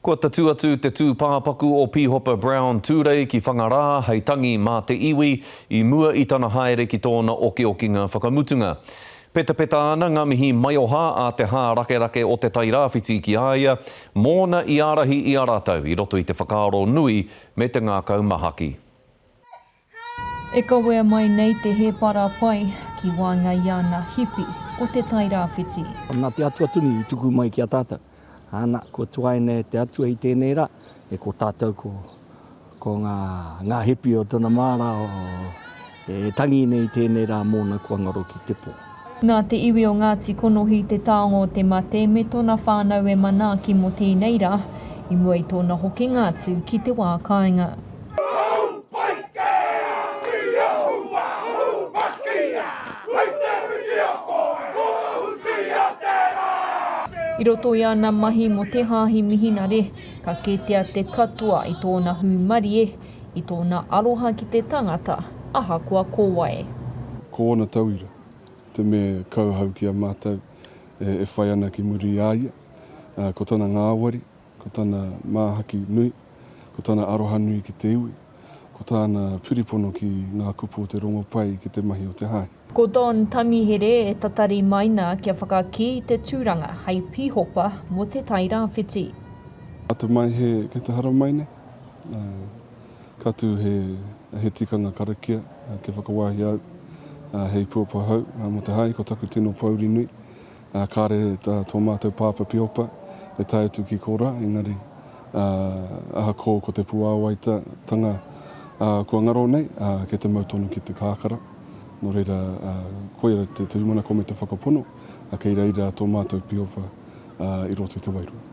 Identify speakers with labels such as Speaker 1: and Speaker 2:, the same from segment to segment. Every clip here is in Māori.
Speaker 1: Kua tatū atu te tūpāpaku o Pīhopa Brown Tūrei ki Whangarā hei tangi mā te iwi i mua i tana haere ki tōna okiokinga whakamutunga. Petapeta ana ngā mihi maioha a te hārakerake o Te Tai Rāwhiti ki a ia mōna i ārahi i a rātou i roto i te whakaaro nui me te ngākau mahaki.
Speaker 2: E kawea mai nei te hēpara pai ki waenga i ana hipi o Te Tai Rāwhiti. Nā te Atua tonu
Speaker 3: i tuku mai ki a tātou. Ana, kua tuaina e te Atua i tēnei rā, e ko tātou ko, ko ngā, ngā hipi o tana māra o, e tangi nei i tēnei rā mōna kua ngaro ki te pō. Nā te iwi o
Speaker 2: Ngāti Konohi te taonga o te mate me tōna whānau e manaaki mō tēnei rā, i mua i tōna hokinga atu ki te wā kāinga. I roto i ana mahi mō te Hāhi Mihinare, ka kētia te katoa i tōna hūmarie, i tōna aroha ki te tangata, ahakoa ko wai. Ko ōna
Speaker 4: tauira, te me kauhau ki a mātou e whai ana ki muri i a ia, ā, ko tana ngāwari, ko tana māhaki nui, ko tana aroha nui ki te iwi, ko tāna piripono ki ngā kupu o te rongopai ki te mahi o te hae. Ko Don Tamihere
Speaker 2: e tatari mai nā kia whakakī te tūranga hei pīhopa mō Te Tai Rāwhiti. Atu
Speaker 4: mai he kei te haramai nei, ka tū he tikanga karakia kia whakawāhia au hei puapahau mō te hae, ko taku tino pōuri nui Ā, kāre tā tō mātou pāpā Piopa e tae atu ki Kora, engari, ā, ahakō ko te puāwaita tanga, ā, kua ngaro nei, ā, kei te mau tonu ki te kākara. Nō reira, ā, koia te turimana kō me te whakapono, ā, kei reira tō mātou Piopa, ā, i roto i te wairua.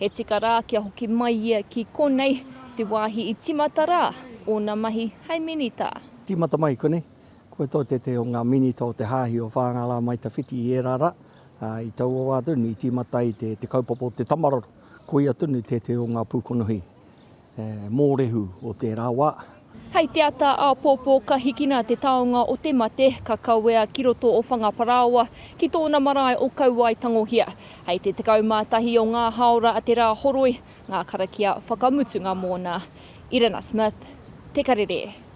Speaker 2: He tika rā kia hoki mai ia ki konei, te wāhi i tīmata rā ōna mahi hei minita. Tīmata mai konei,
Speaker 3: kua tō te te o ngā minita o te Hāhi o Whāngārā mai tawhiti i ērā rā, ā, i taua wā tonu i tīmata ai te kaupapa o te tamaroro, koia tonu te te o ngā pūkonohi. He mōrehu o tērā wā. Hei te ata
Speaker 2: āpōpō ka hikina te taonga o te mate, ka kawea ki roto o Whangaparāoa, ki tōna marae o Kauaetangohia. Hei te 11 o ngā hāora a Te Rāhoroi ngā karakia whakamutunga mōna. Irina Smith, Te Karere.